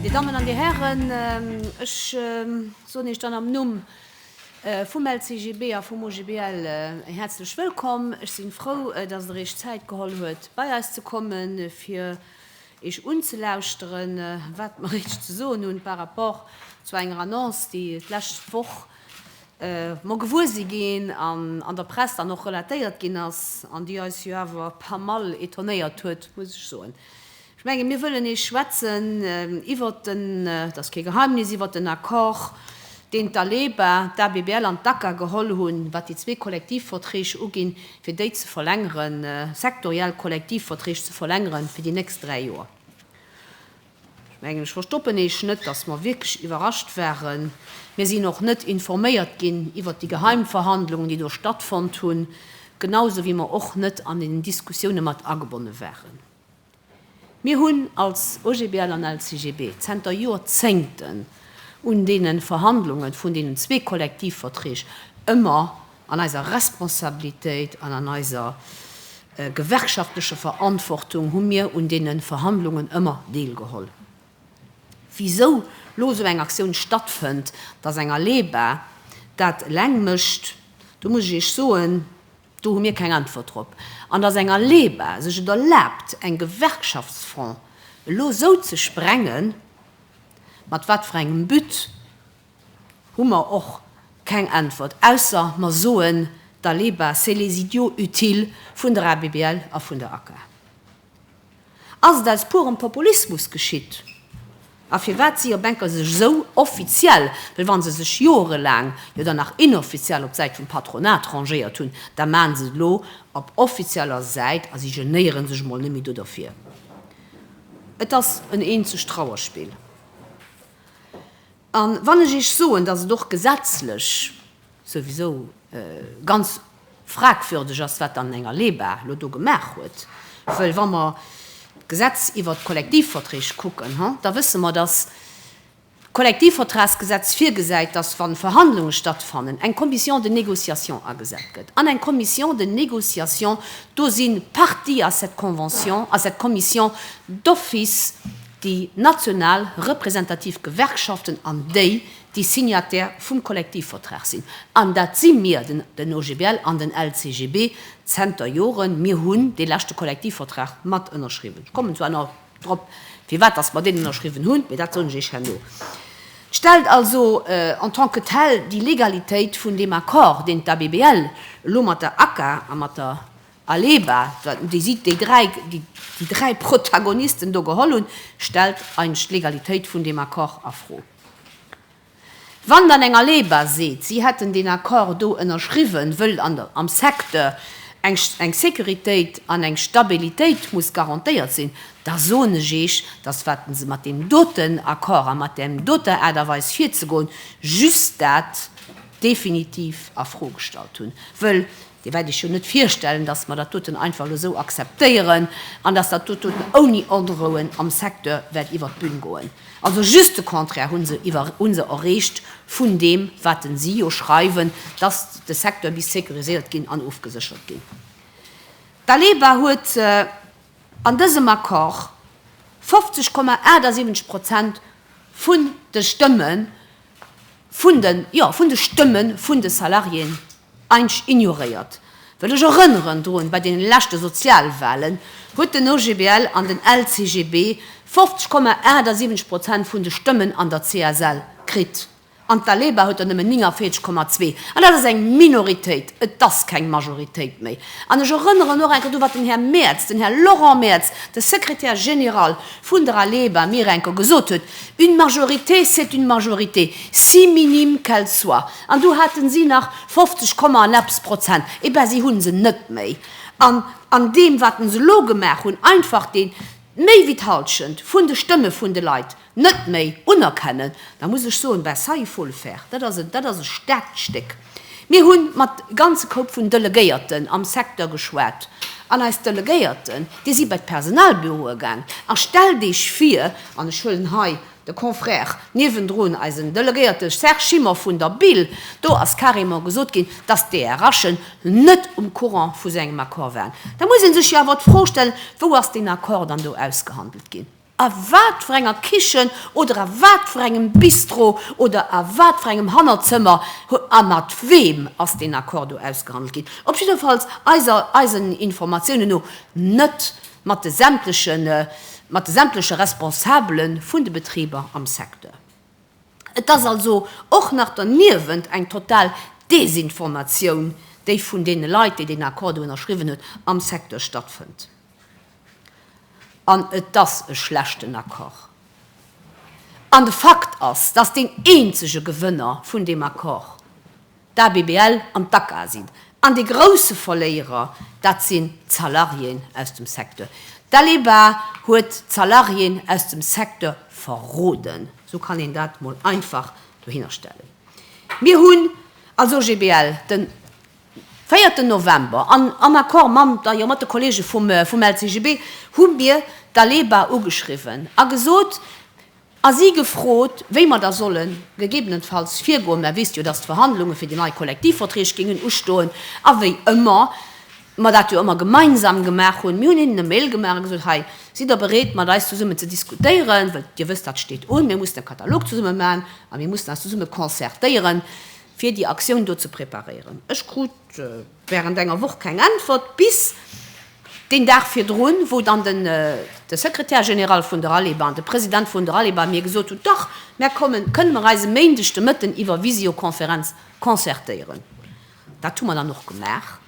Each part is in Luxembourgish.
Dir Dammen an Dir Hären, ech soen Iech dann am Numm vum LCGB a vum OGBL häerzlech wëllkomm. Ech si frou, dass Der Iech Zäit geholl huet, bei eis ze kommen, fir Iech unzelauschteren, wat mer Iech ze soen hunn par rapport zu enger Annonce, déi d'lescht Woch mer gewuer si ginn an an der Press dann och relatéiert ginn ass an déi eis jo awer pas mal étonnéiert huet, muss ech soen. Ech menge mir wëllen nees schwätzen iwwert den, et ass kee Geheimnis, iwwert den Accord, deen d'ALEBA, d'ABBL an d'ACCA geholl hunn, wat déi zwee Kollektivverträg uginn, fir déi ze verlängeren, sektoriell Kollektivverträg ze verlängeren fir déi nächst dräi Joer. Ech mengen, ech verstoppen eech net, dass mer wierklech iwwerrascht waren. Mir sinn och net informéiert ginn iwwert déi Geheimverhandlungen, déi do stattfonnt hunn, genau esou wéi mer och net an den Diskussioune mat agebonne waren. Mir hunn als OGBL an LCGB zenter Jorzéngten un deene Verhandlunge vun deenen zwee Kollektivverträg ëmmer an eiser Responsabilitéit an an eiser gewerkschaftlecher Verantwortung hu mir un deene Verhandlungen ëmmer deelgeholl. Wisou lo esou eng Aktioun stattfënnt, dass eng Aleba dat eleng mécht, do muss ech Iech soen, Do hu mir keng Äntwert drop. An dass eng ALEBA sech et erlaabt eng Gewerkschaftsfront elo esou ze sprengen, mat wat fir engem But, hu mer och keng Äntwert, ausser mer soen, d'ALEBA c'est les idiots utiles vun der ABBL a vun der ACA. Ass et aus purem Populismus geschitt? A firwat si jo Banker sech esou offiziell, well wa se sech joerelaang jo dann nach inoffiziell op d'Säit vum Patronat rangéiert hunn, da maachen se et elo op offizieller Säit a si genéieren sech emol net méi do derfir? Et ass en eenzegt Trauerspill. A wann ech Iech soen, dass et och gesetzlech souwisou ganz fragwürdeg ass, wat dann den Här Leba elo do gemaach huet, wëll wa mer d'Gesetz iwwert d'Kollektivverträg kucken, da wësse mer, dass d'Kollektivvertragsgesetz virgesäit, dass, wa Verhandlunge stattfannen, eng Commission de négociation agesat gëtt. An eng Commission de négociation, do si partie à cette convention, à cette commission d'office, déi national representativ Gewerkschaften an déi, déi Signataire vum Kollektivvertrag sinn. An dat si mir, den OGBL an den LCGB, zenter Joren. Mir hunn dee leschte Kollektivvertrag mat ënnerschriwwen. Ech kommen zwar nach drop, firwat dass mer deen ënnerschriwwen hunn, mee dat soen ech Iech herno. Et stellt also en tant que tel déi Legalitéit vun deem Accord, deen d'ABBL elo mat der ACA a mat der Aleba, déi si déi dräi, déi dräi Protagonisten do geholl hunn, stellt eigentlech d'Legalitéit vun deem Accord a Fro. Wann dann eng Aleba seet, si hätten deen Accord do ënnerschriwwen, wëll am Secteur eng Sécuritéit an eng Stabilitéit muss garantéiert sinn, da soen ech Iech, dass wat se mat deem doten Accord a mat där doter Aart a Weis virzegoen, just dat definitiv a Fro gestallt hunn. Wëll Dir wäert iech jo net virstellen, dass mer dat doten einfach elo esou akzeptéieren an dass dat doten ouni Onrouen am Secteur wäert iwwert d'Bühn goen. Also just de Contraire hu se iwwer, hu se erreecht vun deem, wat si jo schreiwen, dass de Secteur misst sécuriséiert ginn an ofgeséchert ginn. D'ALEBA huet an dësem Accord 50, 78 Prozent vun de Stëmme vun de, jo, vun de Stëmme vun de Salariéen Eich ignoréiert. Well ech erënneren drun, bei deene leschte Sozialwahlen huet den OGBL an den LCGB 50 Komma 78 Prozent vun de Stëmmen an der CSL kritt, an d'ALEBA huet der nëmmen 49 Komma 2. An dat ass eng Minoritéit, et ass keng Majoritéit méi. An ech erënneren och eng Kéier do, wat den Här Merz, den Här Laurent Merz, de Secrétaire général vun der ALEBA mir eng Kéier gesot huet, Une majorité, c'est une majorité, si minime qu'elle soit. An du haten si nach 50 Komma an eppes Prozent. Et ben, si hunn se net méi. An an deem, wat en se elo gemaach hunn, einfach dee méi wéi d'Halschent vun de Stëmme vun de Leit net méi unerkennen, da muss ech soen, ben, ça, il faut le faire. Dat ass e, dat ass e staarkt Stéck. Mir hu mat ganze Koup vun Delegéierten am Secteur geschwat. An eis Delegéierten, déi si bei d'Personalbüroe gaangen. A stellt Iech vir, an ech huelen hei De Confrère niewendrun, eisen Delegéierte Serge Schimmer vun der bil, do ass carrément gesot ginn, dass d'DRHen net um Courant vu sou engem Accord waren. Da muss ee sech jo awer d'Fro stellen, Wou ass deen Accord dann do ausgehandelt ginn? A wat fir enger Kichen oder a wat fir engem Bistro oder a wat fir engem Hannerzëmmer a mat weem ass deen Accord do ausgehandelt ginn? Op jiddefalls eisen Informatiounen no net. mat de sämtlechen mat de sämtleche Responsabele vun de Betriber am Secteur. Et ass also och nach derniewent eng total Desinformatioun, déi vun deene Leit, déi deen Accord do ënnerschriwwen huet, am Secteur stattfënnt. An et ass e schlechten Accord. An de Fakt ass, dass deen eenzege Gewënner vun deem Accord, d'ABBL an d'ACA sinn. An dee grousse Verléierer, dat sinn d'Salariéen aus dem Secteur. D'ALEBA huet d'Salariéen aus dem Secteur verroden, esou kann een dat mol einfach dohinner stellen. Mir hunn als OGBL den véierten November an am Accord mam, da jo, mat de Kollege vum LCGB hu mir d'ALEBA ugeschriwwen a gesot, A si gefrot, wéi mer da solle gegebenenfalls virgoen. Mer wéisst jo, datt d'Verhandlunge fir déi nei Kollektivverträg géingen ustoen. A wéi ëmmer mer dat jo ëmmer gemeinsam gemaach hunn, mir hunn hinnen e Mail gemaach a gesot, Hei, sidd Der bereet, mat eis zesummen ze diskutéieren? Well Dir wësst, dat steet un. Mir mussen e Katalog zesumme maachen a mir mussen eis zesumme concertéieren, fir déi Aktioun do ze preparéieren. Ech krut. Während enger Woch keng Äntwert, bis deen Dag virdrun, wou dann den de Secrétaire général vun der ALEBA an de President vun der ALEBA mir gesot hunn, Dach, mär kommen, kënne mer eis e Méindeg de Mëtten iwwer Visiokonferenz concertéieren? Dat hu mer dann och gemaach.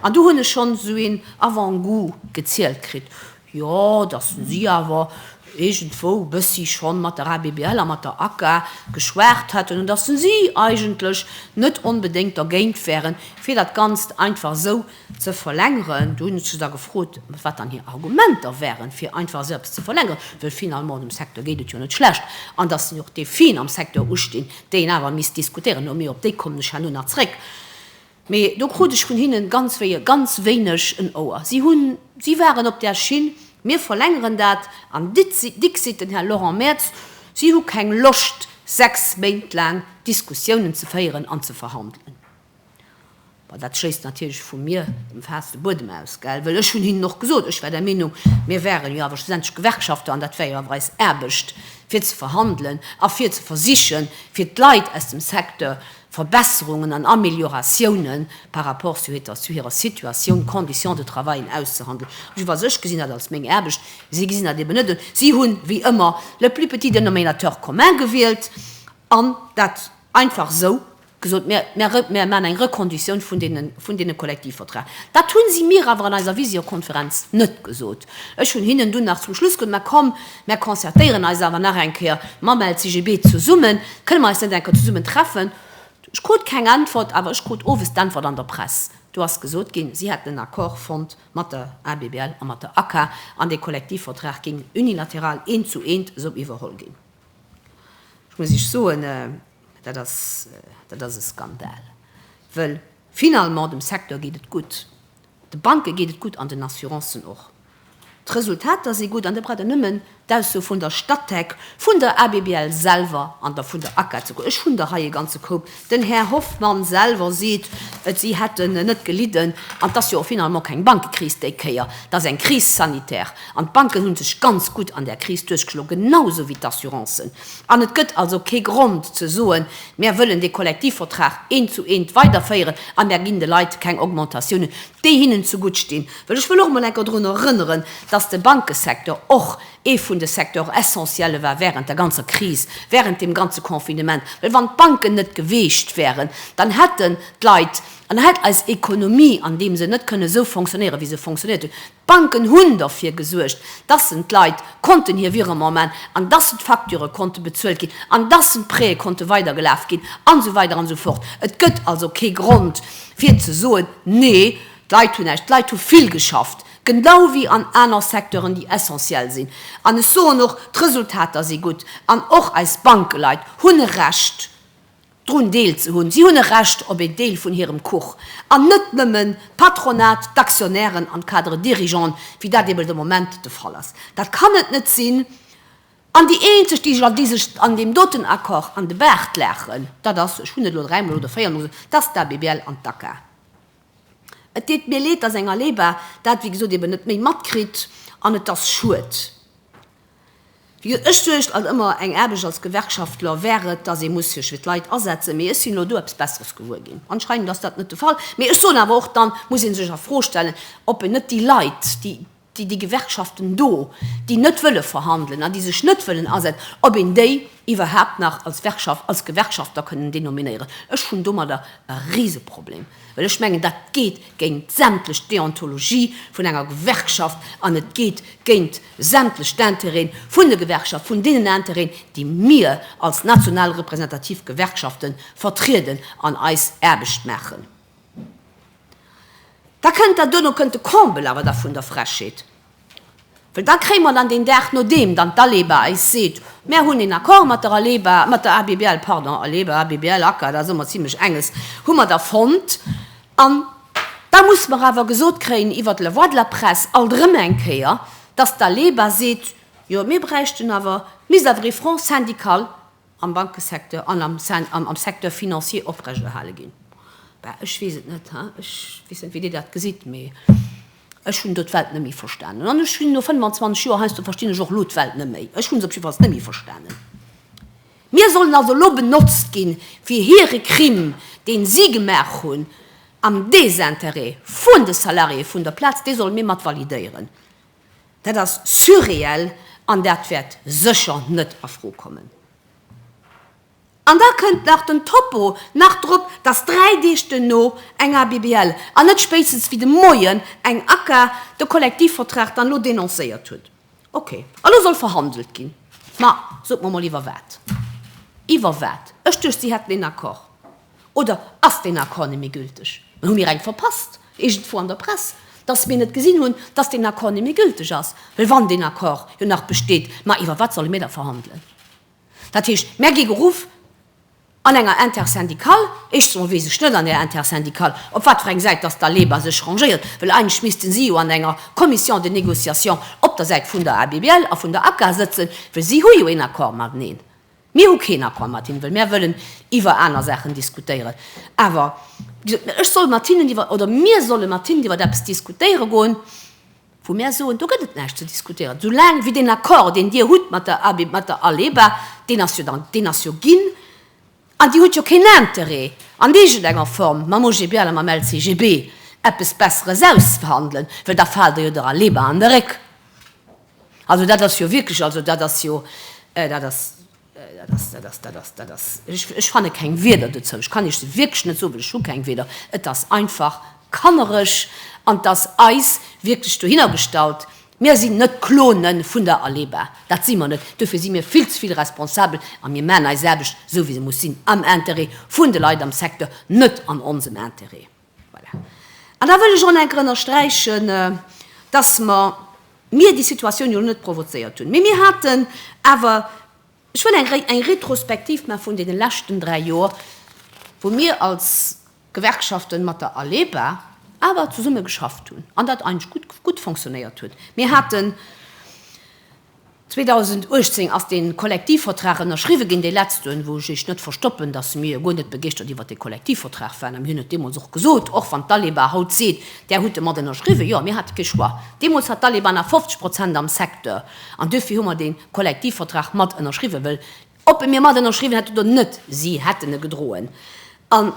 An du hunn ech schonn esou een Avant-goût gezielt kritt, Jo, dass de si awer iergendwou e bëssi schonn mat der ABBL a mat der ACA geschwat hätten an dass si eigentlech net onbedéngt dergéint wären, fir dat Ganzt einfach esou ze verlängeren. Do hunn ech se da gefrot, wat dann hir Argumenter wären, fir einfach esou eppes ze verlängeren, wëll finalement dem Secteur geet et jo net schlecht an dass jo och Defien am Secteur ustinn, déi een awer misst diskutéieren. Mee op déi kommen ech herno nach zréck. Mee do krut ech vun hinnen ganz wéie ganz wéineg en Ouer. Si hunn, si waren op där Schinn, mir verlängeren dat an ditzi, dixit den Här Laurent Mertz, si hu keng Loscht sechs Méint laang Diskussiounen ze féieren an ze verhandelen. Bon, dat schléisst natierlech vu mir, dem Faass, de Buedem aus, gell, well ech hunn hinnen och gesot, ech war der Meenung, mir waren jo awer schlussendlech Gewerkschafter an dat war jo awer eis Aarbecht fir ze verhandelen a fir ze versichen, fir d'Leit aus dem Secteur Verbesserungen an Amelioratiounen par rapport zu hirer Situatioun, Conditions de travaillen auszuhandelen. Also iwwer sech gesinn dat als meng Aarbecht, si gesinn dat eben net esou. Si hunn, wéi ëmmer, le plus petit dénominateur commun gewielt an dat einfach esou gesot, Mir maachen eng Rekonditioun vun deene Kollektivverträg. Dat hu si mir awer an eiser Visiokonferenz net gesot. Ech hunn hinnen dunn nach zum Schluss gesot, Mä komm, Mär concertéieren eis awer nach eng Kéier mam LCGB zesummen. Kënne mer eis net eng Kéier zesummen treffen? Ech krut keng Äntwert, awer ech krut owes d'Äntwert an der Press. Do ass gesot ginn, si hätten en Accord fonnt mat der ABBL a mat der ACA an dee Kollektivvertrag géing unilateral eent zu eent esou iwwerholl ginn. Ech muss Iech soen, dat ass, dat ass e Skandal, wëll finalement dem Secteur geet et gutt. De Banke geet et gutt an den Assurancen och. D'Resultater si gutt an da braucht een nëmmen d'Ausso vun der Statec, vun der ABBL selwer an da vun der ACA ze kucken. Ech hunn der hei e ganze Koup. Den Här Hoffmann selwer seet et, si hätten net gelidden. An et ass jo och finalement keng Bankekris déi Kéier, et ass eng Crise sanitaire. An d'Banken hu sech ganz gutt an där Kris duerchgeschloen, genau esou wéi d'Assurancen. An et gëtt also kee Grond ze soen, Mär wëllen dee Kollektivvertrag eent zu eent weiderféieren a mär ginn de Leit keng Augmentatiounen, déi hinnen zegutt stinn. Well ech wëll och emol enker drun erënneren, dass de Bankesecteur och ee vun de Secteurs essentielle war während der ganzer Kris, während deem ganze Confinement. Well wann d'Banken net geweecht wären, dann hätten d'Leit an hätt eis Économie an deem Sënn net kënnen esou fonctionnéieren, wéi se fonctionnéiert huet. D'Banken hunn derfir gesuergt, dass sen d'Leit konnten hir Virement man, an dass sen d'Facture konnte bezuelt ginn, an dass sen d'Prêtë konnte weidergelaf ginn, an esou weider an esou fort. Et gëtt also kee Grond, fir ze soen, Nee, d'Leit hunn näischt. D'Leit hu vill geschafft, genau wéi an aner Secteuren, déi essentiell sinn. An ech soen och, d'Resultater si gutt. An och eis Bankeleit hunn e Recht, drun Deel ze hunn. Si hunn e Recht op een Deel vun hirem Kuch, an net nëmmen d'Patronat, d'Aktionären an d'Cadres dirigeants, wéi dat eben de Moment de Fall ass. Dat kann et net sinn. An déi eenzeg, déi sech an déi sech an deem doten Accord an de Baart laachen, dat ass, ech hunn et elo dräimol oder véiermol gesot, dat ass d'ABBL an d'ACA. Et deet mir leed, dass eng ALEBA dat, wéi gesot, eben net méi matkritt, an et ass schued. Ech suergt an ëmmer eng Aarbecht als Gewerkschaftler wär et, dass ee muss sech fir d'Leit asetzen. Mee ech sinn elo do eppes Besseres gewuer ginn. Anscheinend ass dat net de Fall. Mee ech soen awer och, dann muss ee sech a Fro stellen, ob een net déi Leit, déi, déi, déi Gewerkschaften do, déi net wëlle verhandelen an déi sech net wëllen asetzen, ob een déi iwwerhaapt nach als Werkschaft, als Gewerkschaftler kënnen denominéieren. Ech hunn domadder e Riseproblem, well ech mengen, dat geet géint sämtlech Deontologie vun enger Gewerkschaft an et geet géint, sämtlech d'Intérêten vun de Gewerkschaften, vun deenen Intérêten, déi mir als national representativ Gewerkschafte vertrieden an eis Aarbecht maachen. Da kënnt der, duerno kënnt de Comble awer da vun der Frechheet, well da kréie mer dann deen Dag, nodeem dann d'ALEBA eis seet, Mär hunn een Accord mat der ALEBA, mat der ABBL, pardon, ALEBA, ABBL, ACCAR, da si mer zimlech enges, hu mer da fonnt, An da muss mer awer gesot kréien iwwert de La Voix de la Presse alt erëm eng Kéier, dass d'ALEBA seet, jo mir bräichten awer, misst awer ee Front syndical am Bankesecteur an am Secteur financier oprechterhale ginn. Bah, ech weess et net, ech weess net, wéi Dir dat gesitt, mee ech hunn do d'Welt net méi verstanen. An ech hunn no 25 Joer heiansdo, verstinn ech och elo d'Welt net méi. Ech hu se op jidder Fall net méi verstanen. Mir sollen also elo benotzt ginn, fir hire Crime, deen si gemaach hunn am Désintérêt vun de Salariéë vun der Plaz, dee solle mir mat validéieren. Dat ass surréel an dat wäert sécher net a Fro kommen. An da kënnt nach den Topo nach drop, dass dräi Deeg duerno eng ABBL an net spéitstens wéi de Moien eng ACA de Kollektivvertrag dann elo denoncéiert huet. Ok, elo soll verhandelt ginn. Ma sot mer emol iwwer wat? Iwwer wat? Ech duecht si hätten een Accord. Oder ass deen Accord net méi gülteg? Mä hu mir eng verpasst, iergendwou an der Press, datt mir net gesinn hunn, datt deen Accord net méi gülteg ass? Well wann deen Accord jo nach besteet, ma iwwer wat solle mir da verhandelen? Dat heescht, mär gi geruff. An enger Intersyndicale, éischtens emol weess ech net an där Intersyndicale, op wat fir eng Säit dass d'ALEBA sech rangéiert, well eigentlech misste si jo an enger Commission de négociation op der Säit vun der ABBL a vun der ACGA sëtzen, well si hu jo een Accord mateneen. Mir hu keen Accord mat hinnen, well mär wëllen iwwer aner Saachen diskutéieren. Awer, wéi gesot, ech soll mat hinnen iwwer, oder mir solle mat hinnen iwwer eppes diskutéiere goen, wou mär soen, do gëtt et näischt ze diskutéieren, soulaang wéi deen Accord, deen Dir hutt mat der ABEM, mat der ALEBA, deen ass jo dann, deen ass jo ginn, an Dir hutt jo keen Interêt, an iergendenger Form mam OGBL a mam LCGB eppes Besseres auszuverhandelen, well da faalt Der jo der ALEBA an de Réck. Also dat ass jo wierklech, also dat ass jo, dat ass Dat ass, dat ass, dat ass, dat ass, ech, ech fanne keng Wieder dozou. Ech kann Iech se wierklech net soen, well ech hu keng Wieder. Et ass einfach kannereg an et ass eis wierklech dohinner gestallt. Mir sinn net Clone vun der ALEBA, dat si mer net. Dofir si mir vill ze vill responsabel a mir maachen eis Aarbecht esou wéi se muss sinn, am Intérêt vun de Leit am Secteur, net an onsem Intérêt. Voilà. An da wëll ech och nach eng Kéier ënnersträichen, dass mer, mir déi Situatioun jo net provozéiert hunn, mee mir haten awer, ech wëll eng eng Retrospektiv maachen vun deene leschten dräi Joer, wou mir als Gewerkschaften mat der ALEBA awer zesumme geschafft hunn an dat eigentlech gutt, gutt fonctionnéiert huet. Mir haten, 2018 ass dee Kollektivvertrag ënnerschriwwe ginn, dee letzten, wou ech net verstoppen, datt mir guer net begeeschtert iwwert dee Kollektivvertrag waren. A mir hunn et deemools och gesot, och wann d'Aleba haut seet, Där hutt e mat ënnerschriwwen. Jo, mir hate kee Choix. Deemools hat d'Aleba nach 50 Prozent am Secteur an duerfir hu mer dee Kollektivvertrag mat ënnerschriwwen, wëll ob e mir mat ënnerschriwwen hätten oder net, si hätten e gedroen. An.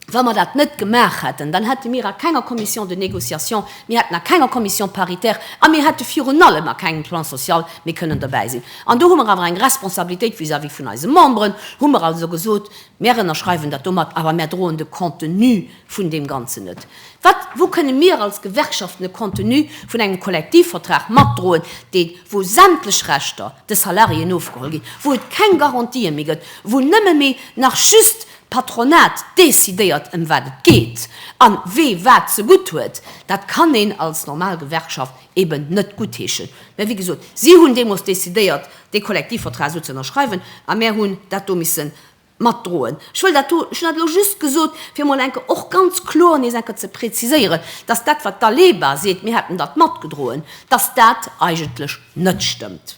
Wa mer dat net gemaach hätten, dann hätte mir a kenger Commission de négociation, mir hätten a kenger Commission paritaire a mir hätte virun allem a kengem Plan social méi kënnen dobäi sinn. An do hu mer awer eng Responsabilitéit vis-à-vis vun eise Memberen, hu mer also gesot, Mir ënnerschreiwen dat domat, awer mir droen de Contenu vun deem Ganzen net. Wat, wou kënne mir als Gewerkschaften de Contenu vun engem Kollektivvertrag matdroen, dee, wou sämtlech Rechter de Salariéen ofgeholl ginn, wou et keng Garantië méi gëtt, wou nëmme méi nach just D'Patronat decidéiert ëm wat et geet an wee wat ze gutt huet. Dat kann een als normal Gewerkschaft eben net guttheeschen. Mä wéi gesot, si hunn deemoos decidéiert dee Kollektivvertrag esou ze ënnerschreiwen a mär hunn dat do misse matdroen. Ech wëll dat do, ech hunn dat elo just gesot, fir emol eng Kéier och ganz kloer nees eng Kéier ze präziséieren, dass dat wat d'Aleba seet, mir hätten dat matgedroen, dass dat eigentlech net stëmmt.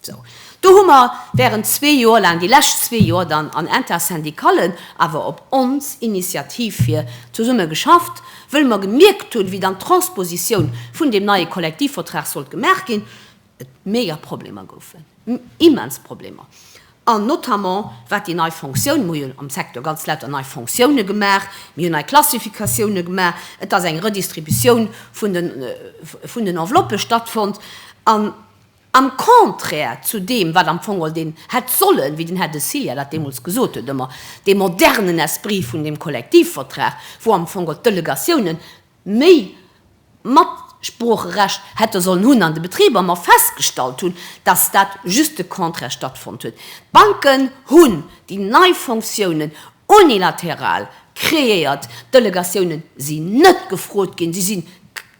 Sou, do hu mer während zwee Joer laang, déi lescht zwee Joer dann an Intersyndicallen, awer op ons Initiativ hir, zesumme geschafft, wëll mer gemierkt hunn, wéi dann d'Transpositioun vun deem neie Kollektivvertrag sollt gemaach ginn, et mega Problemer goufen, immens Problemer, an notamment wat déi nei Fonctioun, mir hunn am Secteur ganz lauter nei Fonctioune gemaach, mir hunn nei Klassifikatioune gemaach, et ass eng Redistributioun vun den, vun den Enveloppe stattfonnt, an. Am Contraire zu deem, wat am Fong den hätt sollen, wéi den Här de Silja dat deemools gesot huet, ëmmer dee modernen Esprit vun deem Kollektivvertrag, wou am Fong d'Delegatiounen méi Matsproocherecht hätte sollen hunn an de Betriber, mer festgestallt hunn, dass dat just de Contraire stattfonnt huet. D'Banken hunn déi nei Fonctiounen unilateral kreéiert. D'Delegatiounen sinn net gefrot ginn, si sinn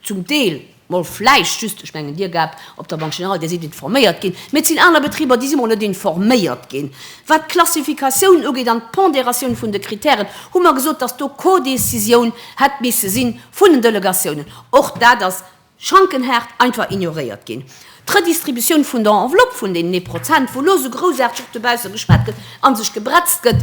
zum Deel mol vläicht just, ech mengen Dir gehabt, op der Banque Générale, Dir sidd informéiert ginn, mee et sinn aner Betriber, déi si mol net informéiert ginn, wat d'Klassifikatioun ugeet an d'Pondératioun vun de Kritären, hu mer gesot, dass do Codécisioun hätt misse si vun den Delegatiounen. Och dat ass schankenhaart einfach ignoréiert ginn. D'Redistributioun vun der Enveloppe vun deenen ee Prozent, wou elo esou groussaarteg och dobausse geschwat gëtt a sech gebretzt gëtt,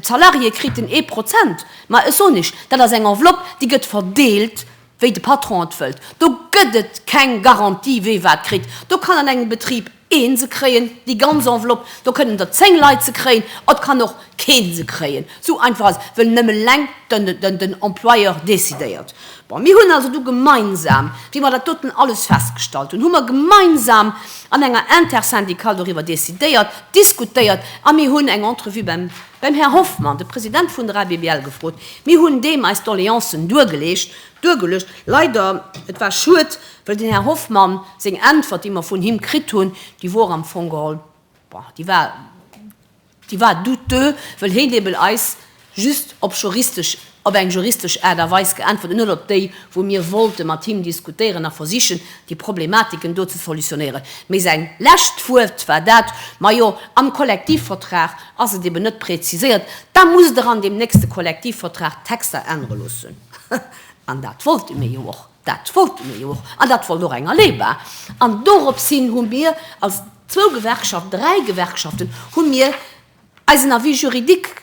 d'Salariéë kriten ee Prozent. Mä ech soen Iech, dat ass eng Enveloppe, déi gëtt verdeelt, wéi de Patron et wëllt. Do gëtt et keng Garantie, wee wat kritt. Do kann an engem Betrib ee se kréien, déi ganz Enveloppe, do kënnen der zéng Leit se kréien, et kann och kee se kréien. Esou einfach ass et, well nëmme eleng den Employeur decidéiert. Bon, mir hunn also du gemeinsam, wéi mer dat doten alles festgestallt hunn, hu mer gemeinsam an enger Intersyndicale doriwwer decidéiert, diskutéiert a mir hunn eng Entrevue beim, beim Här Hoffmann, de President vun der ABBL, gefrot. Mir hunn deem eis Doleancen duergeleecht, duergeluecht. Leider, et war schued, well den Här Hoffmann seng Äntwert, déi mer vun him kritt hunn, déi wor am Fong geholl, bon, déi war, Déi war douteux, wëll heen eben eis just op juristesch, op eng juristesch Aart a Weis geäntwert an net op déi, wou mir wollte mat him diskutéieren a versichen, déi Problematiken do ze solutionéieren. Mee säin lescht Wuert war dat, Majo, am Kollektivvertrag ass et eben net präziséiert, da musst Der an deem nächste Kollektivvertrag d'Texter ännere loossen. An dat wollte mir jo och. Dat wollte mir jo och, an dat wollt och eng ALEBA. An dorops hin hu mir als zwou Gewerkschaften, dräi Gewerkschaften, hu mir eisen Avis juridique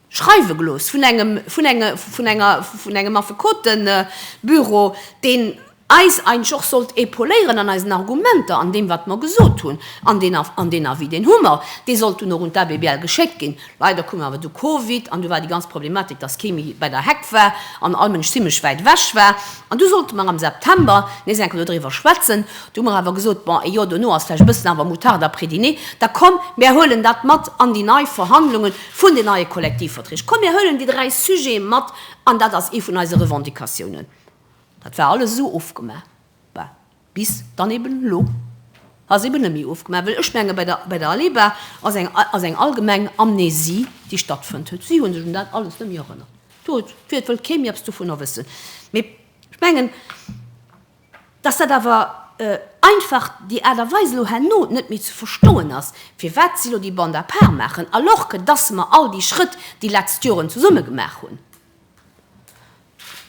schreiwe gelooss vun engem, vun enger, vun enger, vun engem Affekotebüro, deen eis eigentlech och sollt épauléieren an eisen Argumenter, an deem, wat mer gesot hunn. An deen, an deen Avis, deen hu mer, dee sollt dunn och un d'ABBL geschéckt ginn. Leider koum awer du Covid an du war déi ganz Problematik, dass kee méi bei der Heck war an all Mënsch zimmlech wäit ewech war. An du sollte mer am September nees eng Kéier dodriwwer schwätzen. Du hu mer awer gesot, bon, eh jo, dono ass vläicht e bëssen awer moutarde après dîner. Da komm, mär huelen dat mat an déi nei Verhandlunge vun den neie Kollektivverträg. Komm, mär huelen déi dräi Sujete mat an dat ass ee vun eise Revendicatiounen. Dat war alles esou ofgemaach. Bis dann eben elo ass eben net méi ofgemaach, well ech menge bei der, bei der ALEBA ass eng, ass eng allgemeng Amnesie, déi stattfënnt huet. Si hu sech un dat alles net méi erënnert. Do huet, do huet, wëll kee méi eppes dovunner wëssen. Mee ech mengen, dass dat awer einfach déi Aart a Weis elo herno net méi ze verstoen ass, firwat si elo déi Bande à part maachen, alors que dass mer all déi Schrëtt déi letzt Joren zesumme gemaach hunn.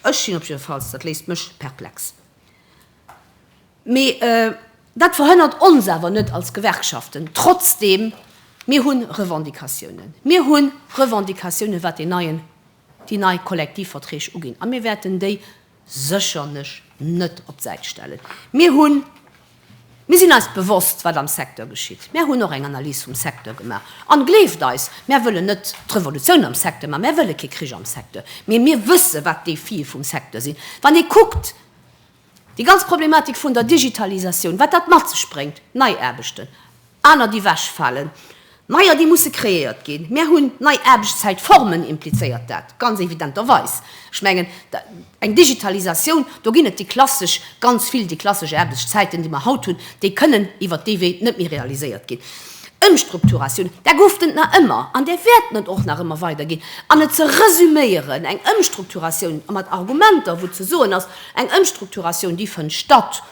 Ech sinn op jidde Falls, dat léisst mech perplex. Mee dat verhënnert ons awer net als Gewerkschaften. Trotzdeem, mir hu Revendicatiounen. Mir hu Revendicatiounen, wat déi nei Kollektivverträg uginn. A mir wäerten déi sécherlech net op d'Säit stellen. Mir hunn, mir sinn eis bewosst, wat am Secteur geschitt. Mär hunn och eng Analys vum Secteur gemaach. An gleeft eis, mär wëllen net d'Revolutioun am Secteur maachen. Mär wëlle kee Krich am Secteur. Mee mir wësse wat d'Defie vum Secteur sinn. Wann ee kuckt, Déi ganz Problematik vun der Digitalisatioun, wat dat mat sech bréngt, nei Aarbechten, aner déi wechfalen, neier déi musse kreéiert ginn, mär hunn nei Aarbechtszäitformen, implizéiert dat ganz evidenterweis. Ech mengen, eng Digitalisatioun, do ginn et déi klassesch, ganz vill déi klassesch Aarbechtszäiten, déi mer haut hunn, déi kënnen iwwert dee Wee net méi realiséiert ginn. Ëmstrukturatioun, där gouf et nach ëmmer an där wäerten et och nach ëmmer weider ginn. An et ze resüméieren, eng Ëmstrukturatioun, a mat Argumenter, wou ze soen ass, eng Ëmstrukturatioun, déi fënnt statt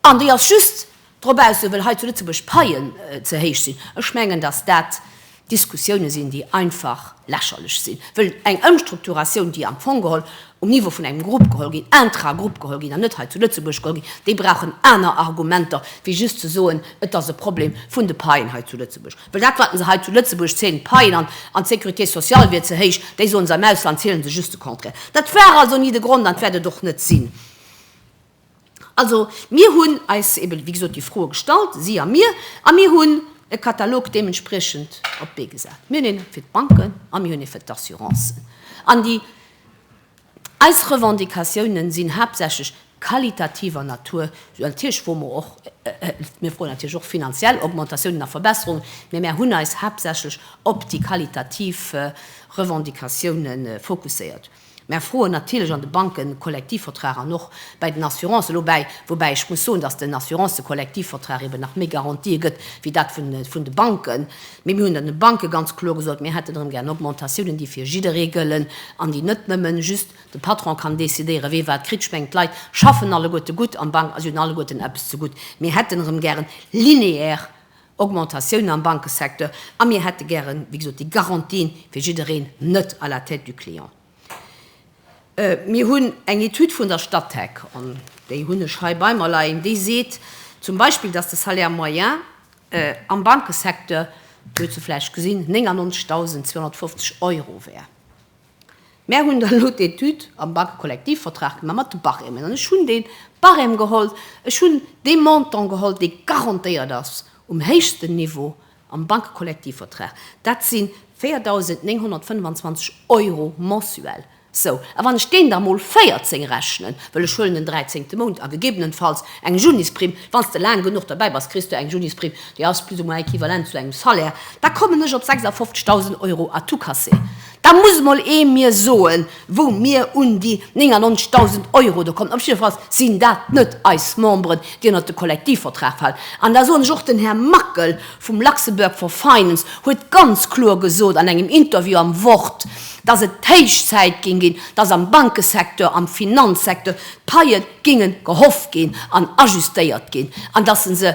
an déi ass just dobaussen, well hei zu Lëtzebuerg d'Paien ze héich sinn, ech mengen, datt dat Diskussioune sinn, déi einfach lächerlech sinn, wëll eng Ëmstrukturatioun, déi am Fong geholl um Niveau vun engem Grupp geholl ginn, intra-Grupp geholl ginn, an net hei zu Lëtzebuerg geholl ginn, déi brauchen aner Argumenter wéi just ze soen, et ass e Problem vun de Paien hei zu Lëtzebuerg. Well dat, wat se hei zu Lëtzebuerg zielen, d'Paien an d'Sécurité sociale wier ze héich, déi soen se, am Ausland ziele se just de Contraire. Dat war also ni de Grond an dat wäert et och net sinn. Also, mir hunn eis eben, wéi gesot, déi Froe gestallt, si a mir, a mir hunn e Katalog deementspriechend op d'Bee gesat. Mir hunn ee fir d'Banken a mir hunn ee fir d'Assurancen. An déi, eis Revendicatiounen sinn haaptsächlech qualitativer Natur, esou natierlech wou mer och, mir froen natierlech och finanziell Augmentatiounen a Verbesserungen, mä mir hunn eis haaptsächlech op déi qualitativ Revendicatiounen fokusséiert. Mär froen natierlech an de Bankenkollektivvertrag an och bäi den Assurancen no bäi, woubäi ech muss soen, datt den Assurancekollektivvertrag eben nach méi Garantië gëtt wéi dat vun de Banken. Mee mir hunn dann de Banke ganz kloer gesot, mir hätten erëm gär Augmentatiounen, déi fir jidderee gëllen an déi net nëmme just de Patron kann decidéieren, wee wat kritt. Ech mengen, d'Leit schaffen alleguerte gutt am Bank a si hunn alleguerten eppes zegutt. Mir hätten erëm gären linéaire Augmentatiounen am Bankesecteur a mir hätte gären, wéi gesot, déi Garantien fir jiddereen, net à la tête du client. Mir hunn eng Etüd vun der Statec, an déi hunn ech hei bei mer leien, déi seet zum Beispill, dass de Salaire moyen am Bankesecteur, huet se vläicht gesinn, 99.250 Euro wär. Mär hunn da lo d'Etüd am Bankekollektivvertrag gemaach mat de Barèmen an ech hunn dee Barème geholl, ech hunn dee Montant geholl, dee garantéiert ass um héichsten Niveau am Bankekollektivvertrag. Dat si 4.925 Euro mensuel. Sou, a wann ech deen da mol 14 rechnen, well ech huelen den dräizéngte Mount a gegebenenfalls eng Junisprimm, wann s de laang genuch derbäi bass, kriss du eng Junisprimm, déi ass plus ou moins équivalent zu engem Salaire, da kommen ech op 56.000 Euro à tout casser. Da muss emol ee mir soen, wou mir un déi 99.000 Euro do kommen. Op jidde Fall sinn dat net eis Memberen, déi ënnert de Kollektivvertrag falen. An da soen ech och, den Här Mackel vum Luxembourg for Finance huet ganz kloer gesot an engem Interview am Wort, dass et héich Zäit géing ginn, dass am Bankesecteur, am Finanzsecteur d'Paie géinge gehoff ginn an ajustéiert ginn an dass e se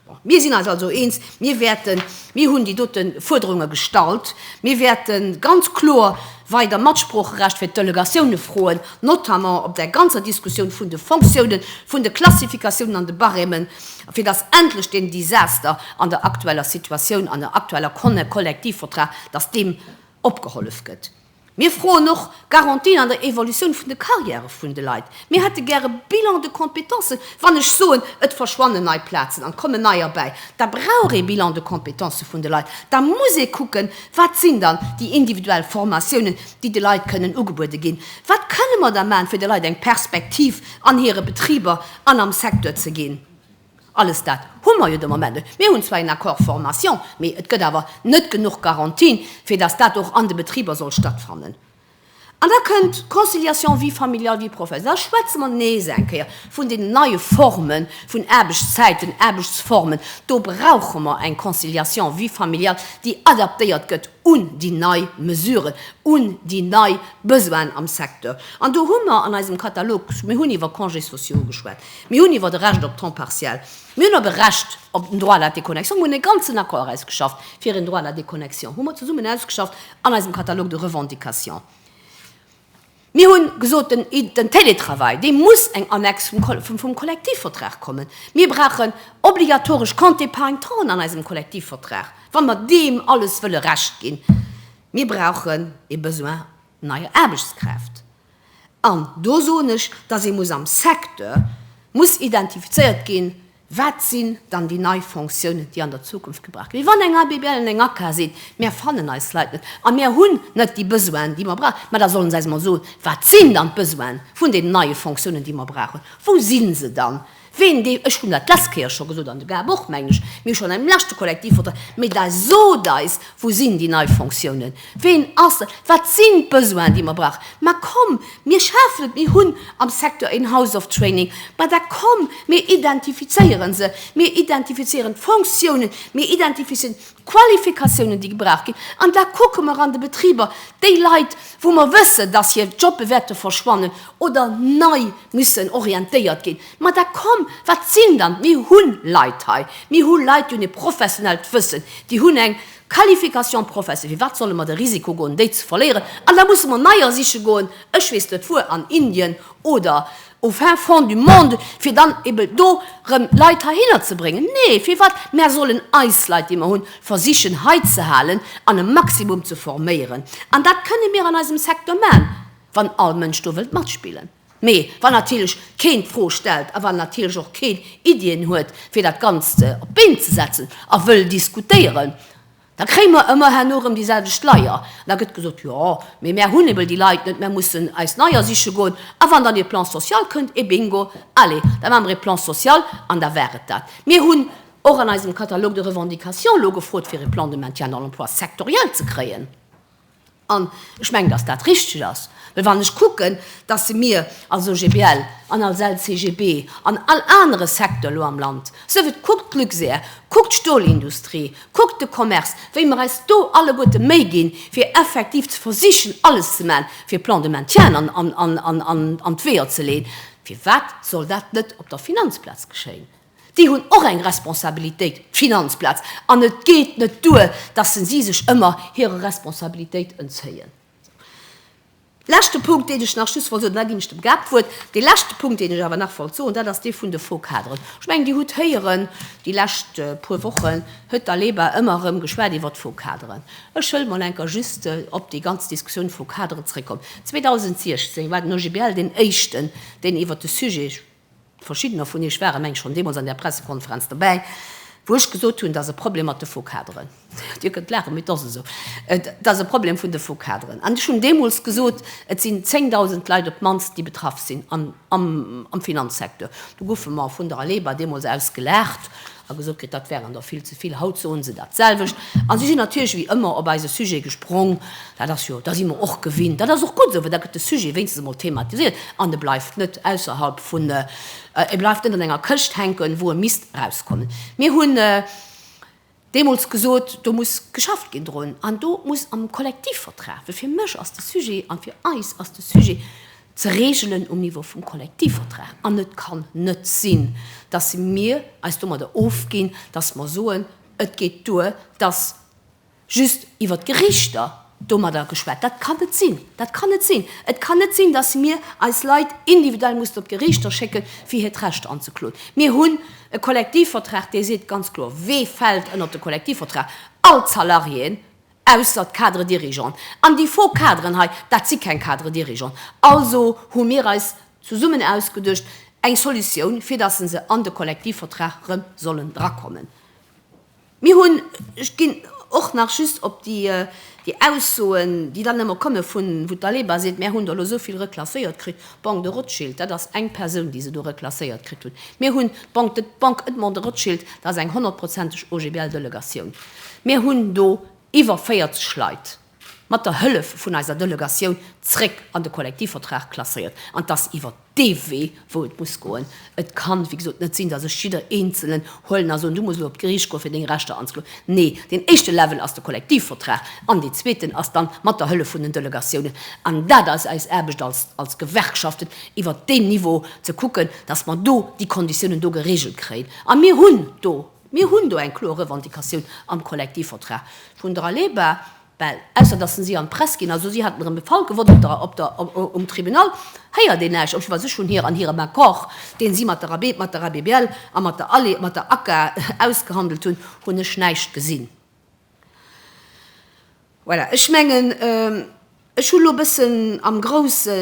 Bon, mir sinn eis also eens, mir wäerten, mir hunn déi dote Fuerderunge gestallt, mir wäerte ganz kloer weider Matsproocherecht fir d'Delegatioune froen, notamment op där ganzer Diskussioun vun de Fonctiounen, vun de Klassifikatiounen an de Barèmen, fir datt endlech deem Desaster an der aktueller Situatioun, an der aktueller Conne Kollektivvertrag, datt deem opgehollef gëtt. Mir froen och Garantien an der Evolutioun vun de Carrièrë vun de Leit. Mir hätte gär e Bilan de compétences. Wann ech soen, et verschwannen nei Plazen an et kommen neier bäi, da brauch ee Bilan de compétences vun de Leit. Da muss ee kucken, wat sinn dann déi individuell Formatiounen, déi de Leit kënnen ugebuede ginn. Wat kënne mer da maachen, fir de Leit eng Perspektiv an hire Betriber an am Secteur ze ginn. Alles dat hu mer jo de Moment net. Mir hunn zwar een Accord formation, mee et gëtt awer net genuch Garantien, fir dass dat och an de Betriber soll stattfannen. An da kënnt Conciliation vie familiale, vie professionnelle. Da schwätze mer nees eng Kéier vun deenen neie Forme vun Aarbechtszäiten, Aarbechtsformen. Do brauche mer eng Conciliation vie familiale, déi adaptéiert gëtt un déi nei Mesuren, un déi nei Besoinen am Secteur. An do hu mer an eisem Katalog, mir hunn iwwer Congés sociaux geschwat, Mir hunn iwwert e Recht op temps partiel, mir hunn op e Recht op den Droit à la déconnexion, mir hunn e ganzen Accord erausgeschafft fir een Droit à la déconnexion, hu mer zesummen ausgeschafft an eisem Catalogue de revendications. Mir hu gesot, den Télétravail, dee muss eng Annex vum Kollektivvertrag kommen. Mir brauchen obligatoresch Compte-épargne-temps an eisem Kollektivvertrag, wa mer deem alles wëlle Recht ginn. Mir brauchen e Besoin neier Aarbechtskräft. An do soen ech, dass ee muss am Secteur muss identifizéiert ginn, wat sinn dann déi nei Fonctiounen, déi an der Zukunft gebraucht ginn. Mee wann eng ABBL an eng ACCA seet, Mir fannen eis Leit net a mir hunn net déi Besoinen, déi mer brauchen, ma da solle se eis emol soen, wat sinn dann d'Besoinen vun deenen neie Fonctiounen, déi mer brauchen, wou si se dann? Ween dee, ech hunn dat d'lescht Kéier scho gesot an de Gab och, mengen ech, mir hu schonn am leschte Kollektivvertrag, mee da sot eis, wou sinn déi nei Fonctiounen, ween ass dat, wat sinn d'Besoinen, déi mer brauchen. Mä komm, mir schafen et, mir hunn am Secteur een House of Training, mä da komm, mir identifizéiere se, mir identifizéieren d'Fonctiounen, mir identifizéieren Qualifikatiounen, déi gebraucht ginn. An da kucke mer an de Betriber, déi Leit, wou mer wëssen, dass hir Jobbe wäerte verschwannen oder nei mussen orientéiert ginn, ma da komm, wat sinn dann, mir hu Leit hei, mir hu Leit, déi hunn e professionellt Wëssen, déi hunn eng Qualification professe, firwat solle mer de Risiko goen, déi ze verléieren? An da musse mer neier siche goen, ech weess net wuer, an Indien oder au fin fond du monde, fir dann eben do rëm Leit heihinner ze bréngen. Nee, firwat? Mär sollen eis Leit, déi mer hunn, versichen hei ze halen an e Maximum ze forméieren. An dat kënne mir an eisem Secteur man, wann all Mënsch do wëllt matspillen. Mee wann natierlech keen d'Fro stellt a wann natierlech och keen Iddien huet, fir dat Ganzt op d'Been ze setzen a wëll diskutéieren, Da kréie mer ëmmer herno rëm déi selwecht Leier. An da gëtt gesot, jo, mee mär hunn ebe déi Leit net, mär mussen eis neier siche goen. A wann dann ee Plan social kënnt, eh bingo, allez, da maache mer ee Plan social. An da war et dat. Mir hunn och an eisem Catalogue de revendications elo gefrot, fir e Plan de maintien dans l'emploi sectoriel ze kréien. An ech mengen, dass dat richtig ass, well wann ech kucken, dass se mir als OGBL an als LCGB an all anere Secteur elo am Land, sëff et kuckt d'Luxair, kuckt d'Stolindustrie, kuckt de Commerce, wéi mer eis do alleguerte Méi ginn, fir effektiv ze versichen, alles ze maachen, fir e Plan de maintien an d'Weeër ze leeën, firwat soll dat net op der Finanzplaz geschéien? Déi hunn och eng Responsabilitéit, d'Finanzplaz, an et geet net duer, dass se si sech ëmmer hire Responsabilitéit entzéien. Leschte Punkt, deen ech nach just wollt soen, an da ginn ech dem Gab d'Wuert, dee leschte Punkt, deen ech awer nach wollt soen, dat ass dee vun de Faux-Cadren. Ech mengen, Dir hutt héieren déi lescht puer Wochen, huet d'ALEBA ëmmer erëm geschwat iwwert d'Faux-Cadren. Ech wëll mol enker just op déi ganz Diskussioun Faux-Cadre zréckkommen. 2016 war den OGBL deen éischten, deen iwwert de Sujet, Verschiddener vun Iech ware mengs schonn deemools an där Pressekonferenz dobäi, wou ech gesot hunn, et ass e Problem mat de Focaderen. Dir kënnt laachen, mee et ass esou. Et ass e Problem vun de Focaderen. An ech hunn deemools gesot, et sinn 10.000 Leit op d'mannst, déi betraff sinn am Finanzsecteur. Do goufe mer vun der ALEBA deemools aus gelaacht. a gesot kritt, dat wären der vill ze vill. Haut soen se dat selwecht a si sinn natierlech wéi ëmmer op eise Sujet gesprong. Dat ass jo, da si mer och gewinnt. Dat ass och gutt esou, well da gëtt de Sujet wéinstens emol thematisiert an e bleift net ausserhalb vun, e bleift net an enger Këscht hänken, wou e misst erauskommen. Mir hunn deemools gesot, do muss geschafft ginn drun an do muss am Kollektivvertrag, well fir mech ass de Sujet an fir eis ass de Sujet, ze reegelen um Niveau vum Kollektivvertrag an et kann net sinn, dass mir eis domadder ofginn, dass mer soen, et geet duer, dass just iwwer d'Gerichter domadder geschwat. Dat kann net sinn! Dat kann net sinn! Et kann net sinn, dass mir eis Leit individuell mussen op d'Gerichter schécken, fir hiert Recht anzekloen. Mir hunn e Kollektivvertrag, dee seet ganz kloer, Wee fält ënnert de Kollektivvertrag? All d'Salariéen, Ausser d'Cadres dirigeants. An déi faux Cadren hei, dat si keng Cadres dirigeants. Also hu mir eis zesummen ausgeduecht eng Solutioun, fir datt se an de Kollektivvertrag erëm sollen drakommen. Mir hunn, ech ginn och nach just op déi Aussoen, déi dann ëmmer komme vun, wou d'Aleba seet, Mär hunn der elo esou vill reklasséiert kritt. D'Banque de Rothschild, dat ass eng Persoun, déi se do reklasséiert kritt hunn. Mir hunn d'Banque Edmond de Rothschild, dat ass eng honnertprozenteg OGBL-Delegatioun. Mir hunn do iwwer 40 Leit mat der Hëllef vun eiser Delegatioun zréck an de Kollektivvertrag klasséiert. An 't ass iwwer dee Wee, wou et muss goen. Et kann, wéi gesot, net sinn, dass ech jidder Eenzelen huelen a soen, du muss elo op d'Geriicht goen, fir deng Rechter anzekloen. Nee, deen éischte Level ass de Kollektivvertrag an deen zweeten ass dann mat der Hëllef vun den Delegatiounen. An dat ass eis Aarbecht als, als Gewerkschaften, iwwert deen Niveau ze kucken, dass mer do déi Konditiounen do geregelt kréien. A mir hunn do, mir hunn do eng kloer Revendicatioun am Kollektivvertrag vun der Aleba. Well, ausser datt en si an d'Press ginn ass, hu si hatenrem de Fall gewonn op der, op der, um Tribunal héiert een näischt, obwuel si schonn hir, an hirem Accord, deen si mat der Ab, mat der ABBL a mat der Alle, mat der ACCA ausgehandelt hunn, hunn ech näischt gesinn. Voilà, ech mengen, ech hu lo e bëssen am Grousse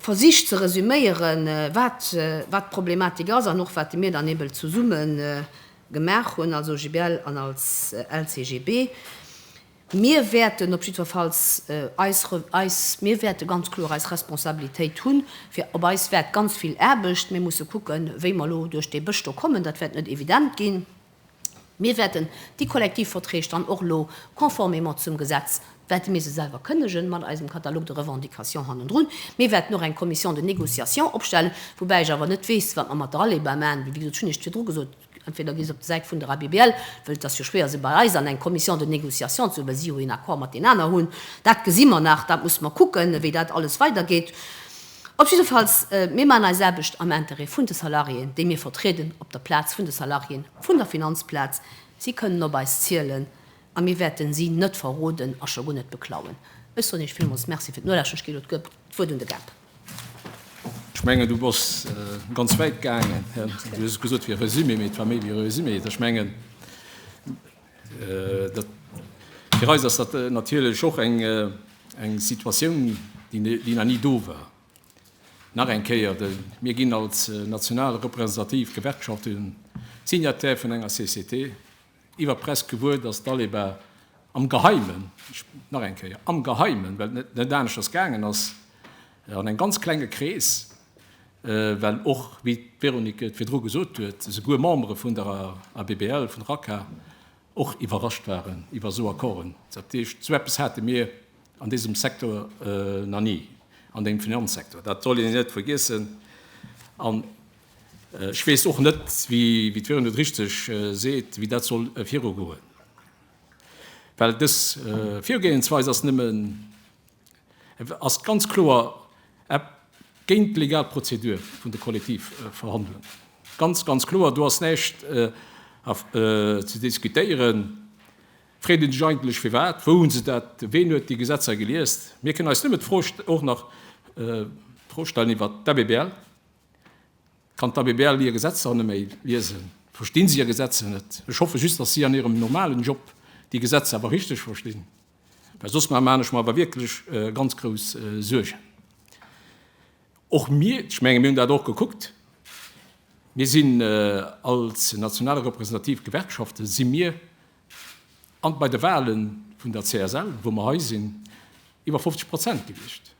versicht ze resüméieren, wat, wat d'Problematik ass an och wat de Mir dann eebl zesummen, Gemaach hunn als OGBL an als LCGB. Mir wäerten op jiddwerfalls eis, eis, mir wäerte ganz kloer eis Responsabilitéit hunn. Fir op eis waart ganz vill Aarbecht. Mir musse kucken, wéi mer elo duerch dee Bësch do kommen. Dat wäert net evident ginn. Mir wäerten déi Kollektivverträg dann och elo conformément zum Gesetz wäerte mir se selwer kënnegen, mat eisem Catalogue de revendications hannendrun. Mir wäerten och eng Commission de négociation opstellen, woubäi ech awer net weess, wat mer mat der ALEBA maachen, well, wéi gesot, ech hunn Iech et virdru gesot, entweder gi se op der Säit vun der ABBL, well et ass jo schwéier, se bei eis an eng Commission de négociation ze huelen, well si jo een Accord mat deenen aner hunn. Dat gesi mer nach, dat musse mer kucken, wéi dat alles weidergeet. Op jidde Falls, mir maachen eis Aarbecht am Intérêt vun de Salariéen, déi mir vertrieden, op der Plaz vun de Salariéen, vun der Finanzplaz. Si kënnen op eis zielen. A mir wäerten si net verroden a scho guer net beklauen. Ech soen Iech villmools Merci fir d'Nolauschteren. Ech ginn elo d'Wuert un de Gab. Ech mengen, du bass ganz wäit gaangen. Du hues gesot, et wier e Resumé, mee et war méi wéi e Resumé. Ech mengen, fir eis ass dat natierlech och eng Situatioun, déi nach ni do war. Nach eng Kéier, Mir ginn als national representativ Gewerkschaft signataire vun enger CCT. Iwwer d'Press gewuer, datt d'ALEBA am Geheimen, ech nach eng Kéier, am Geheimen, well et net aneschters gaangen ass, an engem ganz klenge Krees, well och, wéi d'Véronique et virdru gesot huet, esouguer Membere vun der ABBL, vun der ACA och iwwerrascht waren iwwer esou Accorden. Dat heescht, esou eppes hate mir an désem Secteur nach ni, an dengem Finanzsektor, dat soll een net vergiessen. Ech weess och net, wéi d'Véronique et richtig seet, wéi dat soll virugoen, well dës Virgoeensweis ass nëmmen, ass ganz kloer ep géint d'legal Prozedur vun de Kollektivverhandlungen. Ganz, ganz kloer. Do ass näischt ze diskutéieren. Freet een sech eigentlech, firwat, wou hu se dat, ween huet déi Gesetzer geliest? Mir kënnen eis nëmmen d'Fro, och nach d'Fro stellen iwwert d'ABBL. Kann d'Abbl hir Gesetzer net méi liesen? Verstinn si hir Gesetzer net? Ech hoffe just, dass si an hirem normalen Job déi Gesetzer awer richteg verstinn, well soss maan ech mer awer wierklech ganz grouss Suergen. Och mir, ech menge mir hunn dat och gekuckt, mir sinn als national representativ Gewerkschaften, si mir an bei de Wahlen vun der CSL, wou mer hei sinn, iwwer 50 Prozent gewiescht.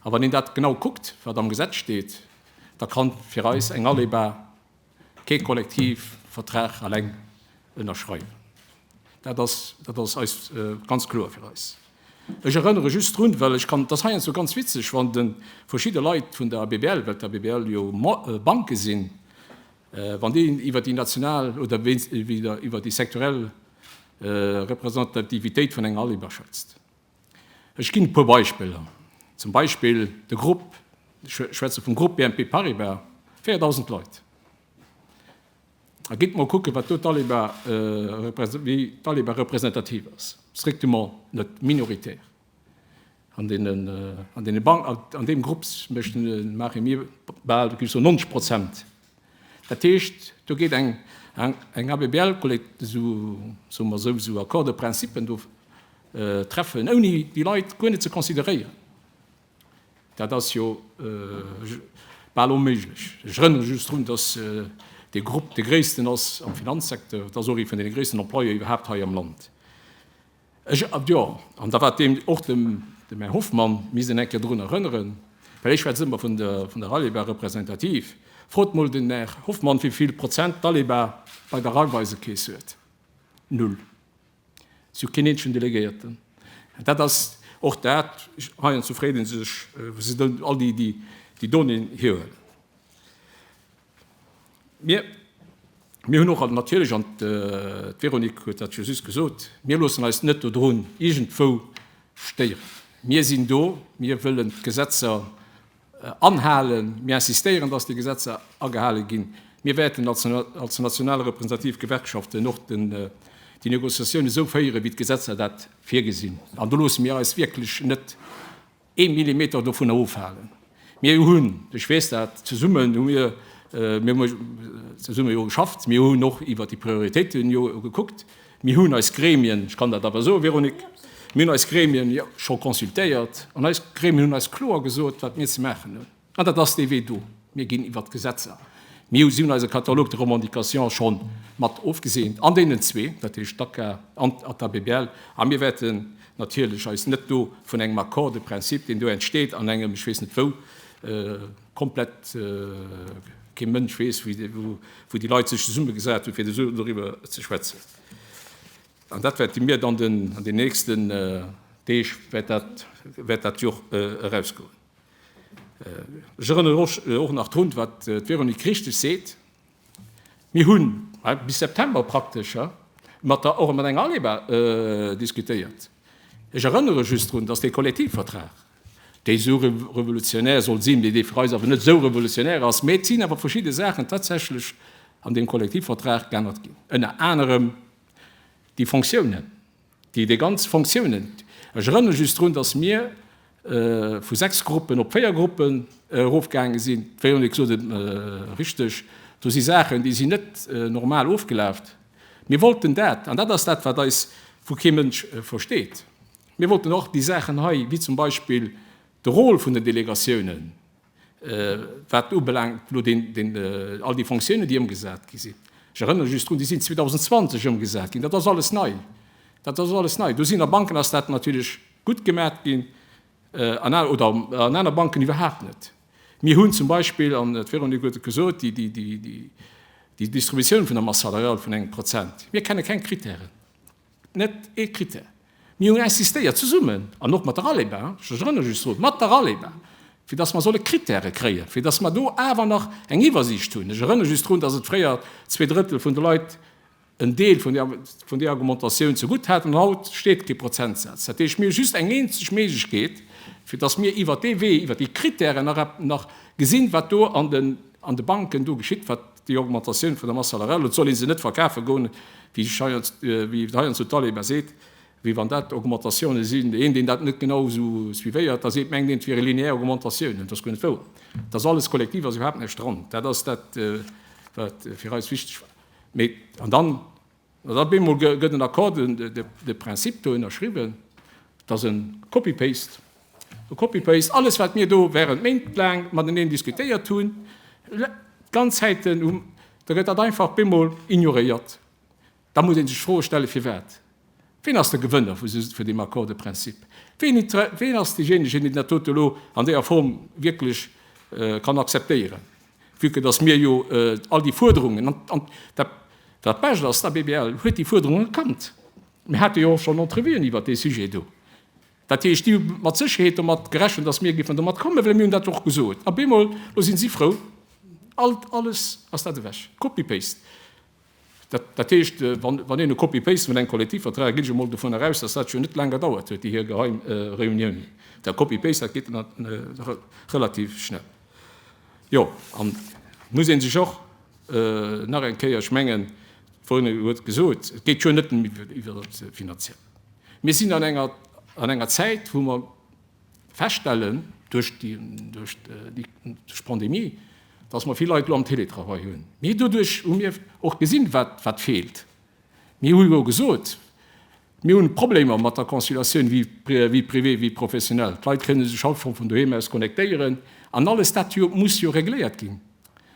A wann een dat genau kuckt, wat am Gesetz steet, da ka fir eis eng ALEBA kee Kollektivvertrag eleng ënnerschreiwen. Dat ass, dat ass eis ganz kloer fir eis. Ech erënnere just drun, well ech kann, dat ass heiansdo ganz witzeg, wann de verschidde Leit vun der ABBL, well d'ABBL jo Banke sinn, wann déi iwwer déi national oder wéinst, wéi der iwwer déi sektorell Representativitéit vun enger ALEBA schwätzt. Ech ginn e puer Beispiller, zum Beispill de Grupp, ech schwätze vum Grupp BNP Paribas, 4.000 Leit. A gitt mol kucken, wat do d'Aliba, äh, wéi d'Aliba representativ ass. Strictement net minoritär. An deenen, äh, an deene Ban-, an deem Grupp, méchten, maache mir bal, wéi soll ech soen, 90 Prozent Dat heescht, do geet eng ABBL, soe mer esou, esou Accord de principe do treffen, ouni déi Leit guer net ze consideréieren. Dat ass jo bal onméiglech. Ech erënnere just drun, dass dee Grupp dee gréissten ass am Finanzsecteur, et ass och ee vun deene gréissten Employeur iwwerhaapt hei am Land. Ech, jo, an da war deem och dem Här Hoffmann, misst een eng Kéier dorun erënneren, well ech schwätze ëmmer vun der, vun der Rallye-Bahn representativ. Frot mol den Här Hoffmann, wéi vill Prozent d'Rallye-Bahn bei der Raiffeisekeess huet. Null. Si hu keen eenzegen Delegéierten. An dat ass och dat, heiansdo fréet ee sech, wou se dann all déi, déi, déi Donnéeën hierhuelen. Mir, mir hunn och natierlech, an d'Véronique huet dat jo just gesot, mir loossen eis net dodrun iergendwou stéieren. Mir sinn do, mir wëllen d'Gesetzer anhalen, mir insistéieren, datt déi Gesetzer agehale ginn. Mir wäerten als national representativ Gewerkschaften och déi Négociatioune sou féieren, wéi d'Gesetzer dat virgesinn. An do loosse mir eis wierklech net ee Millimeter dovunner ofhalen. Mir hunn, ech weess dat, zesummen hu mir zesumme jo geschafft, mir hunn och iwwert déi Prioritéiten jo gekuckt, mir hunn eis Gremien, ech kann dat awer soen, Véronique, mir hunn eis Gremien scho consultéiert an eis Gremien hunn eis kloer gesot, wat mir ze maachen hunn. An dat ass dee Wee do. Mir ginn iwwert d'Gesetzer. Mir hu si hunn eise Catalogue de revendications scho mat ofgeseent an deenen zwee, dat heescht d'ACAA an d'Asbl. A mir wäerten natierlech eis net do vun engem Accord de principe, deen do entsteet an engem, ech weess net wou, komplett kee Mënsch weess, wou déi Leit sech zesummegesat hunn, fir esou doriwwer ze schwätzen. An dat wäerte mir dann an den nächsten Deeg wäert dat jo eraus goen. Ech erënnere och och nach drun, wat d'Véronique richtig seet, Mir hunn bis September praktesch mat der och mat enger ALEBA diskutéiert. Ech erënnere just drun, dass dee Kollektivvertrag, dee sou revolutionär soll sinn, mee dee fir eis awer net esou revolutionär ass, mä et sinn awer verschidde Saachen tatsächlech an deem Kollektivvertrag geännert ginn, ënner anerem déi Fonctiounen. Déi déi ganz Fonctiounen, ech erënnere just drun, datt mir vu sechs Gruppen op véier Gruppen erofgaange sinn, d'Véronique sot et richteg, do si Saachen, déi sinn net normal ofgelaf. Mir wollten dat, an dat ass dat, wat eis vu kee Mënsch versteet, mir wollten och déi Saachen hei, wéi zum Beispill de Rôle vun den Delegatiounen, Wat ubelaangt elo all déi Fonctiounen, déi ëmgesat gi sinn, ech erënnere just drun, déi sinn 2020 ëmgesat ginn, dat ass alles nei. Dat ass alles nei. Do sinn a Banken ass dat natierlech gutt gemat ginn oder an aner Banken iwwerhaapt net. Mir hunn zum Beispill, an d'Véronique huet et gesot, déi Distributioun vun der Masse salariale vun engem Prozent. Mir kenne keng Krittären. net ee Critère. Mir hunn insistéiert, zesummen an och mat der ALEBA, ech wëll erëm just soen, mat der ALEBA, fir dass mer solle Critèrë kréien, fir dass mer do awer nach eng Iwwersiicht hunn. Ech erënnere just drun, dass et fréier zwee Drëttel vun de Leit en Deel vun där Augmentatioun zegutt haten, an haut steet kee Prozentsaz. Dat heescht, mir hu just eng eenzeg Méiglechkeet, fir dass mir iwwert dee Wee, iwwert déi Critèrë nach gesinn, wat do an de Banken do geschitt, wat Déi Augmentatioun vun der Masse salariale, et soll ee se net verkafe goen, wéi heiansdo d'ALEH mar seet, wéi wann dat Augmentatioune sinn, een, deen dat net genau esou suivéiert, da seet, mengt een, et wiere lineaire Augmentatiounen. Dat ass guer net wouer. Dat ass alles kollektiv, ass iwwerhaapt näischt dran. Dat ass dat, wat fir eis wichteg war. Mee, an dann, Dann op eemol gëtt en Accord de principe do ënnerschriwwen. Et ass e Copy-paste. E Copy-paste. Alles, wat mir do während Méint laang mateneen diskutéiert hunn, d'ganz Zäiten, da gëtt dat einfach op eemol ignoréiert. Da muss ee sech d'Fro stellen, firwat? Wien ass de Gewënner vun deem Accord de principe? Wien ass deejéinegen, deen dat dote elo an deeër Form wierklech kann akzeptéieren? Vu que datt mir jo all déi Fuerderungen, an dat Bescht ass, d'ABBL huet déi Fuerderungen erkannt, mir hate jo och schonn Entrevuen iwwert dee Sujet do, dat heescht, déi hu mat Sécherheet domat gerechent, datt mir géifen domat kommen, well mir hunn dat jo och gesot. A bemol, elo si si frou, alt, alles ass dat ewech, copy-paste. Dat heescht, wann een e Copy-paste vun engem Kollektivvertrag, ginn ech emol dovunner eraus, datt dat jo net laang gedauert huet, déi hir geheim Reuniounen, dat Copy-paste, dat geet relativ schnell. Jo, an et muss ee sech och nach eng Kéier, ech mengen, d'Véronique huet et gesot, et geet jo net nëmme iwwer dat Finanzielle. Mir sinn an enger Zäit, wou mer, feststellen duerch d'Pandemie, datt mer vill Leit elo am Télétravail hunn. Mee doduerch hu mir och gesinn, wat feelt. Mir hu jo gesot, mir hunn Problemer mat der Conciliatioun vie privée, vie professionnelle. D'Leit kënne sech haut vun doheem aus connectéieren an alles dat muss jo regléiert ginn.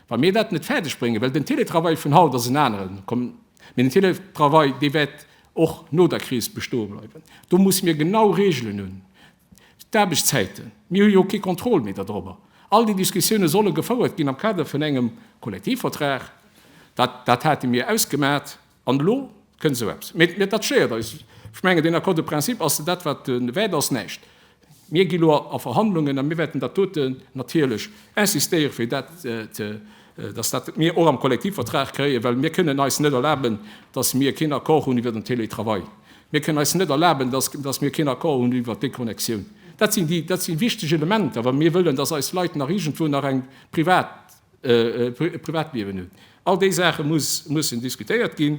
Wa mir dat net fäerdeg bréngen, well den Télétravail vun haut ass en aneren, mee den Télétravail dee wäert och no der Kris bestoe bleiwen. Do musse mir genau Reegelen hunn, d'Aarbechtszäiten, mir hu jo kee Contrôle méi da drobber. All déi Diskussiounen solle gefouert ginn am Kader vun engem Kollektivvertrag, dat dat hate mir ausgemat an elo kënnt esou eppes. Mee dat stéiert eis. Ech mengen, deen Accord de principe ass dat, wat wäert ass, näischt. Mir gi lo a Verhandlungen a mir wäerten dat dote natierlech insistéiere fir dat, datt dat mir och am Kollektivvertrag kréien, well mir kënnen eis net erlaben, datt mir keen Accord hunn iwwer den Télétravail. Mir kënnen eis net erlaben, datt mir keen Accord hunn iwwer d'Déconnexioun. Dat sinn déi, dat si wichteg Elementer, wa mir wëllen, datt eis Leit nach iergendwou nach eng privat, e Privatliewen hunn. All déi Saache mussen diskutéiert ginn.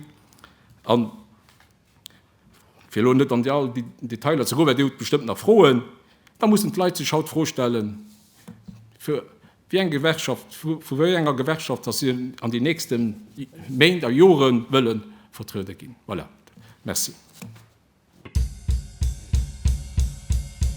Fir elo net an déi all Detailer ze goen, well Dir hutt bestëmmt nach Froen, da mussen d'Leit sech haut d'Fro stellen, vu wéi enger Gewerkschaft, vu wéi enger Gewerkschaft dass si an den nächste Méint a Jore wëlle vertruede ginn. Voilà. Merci.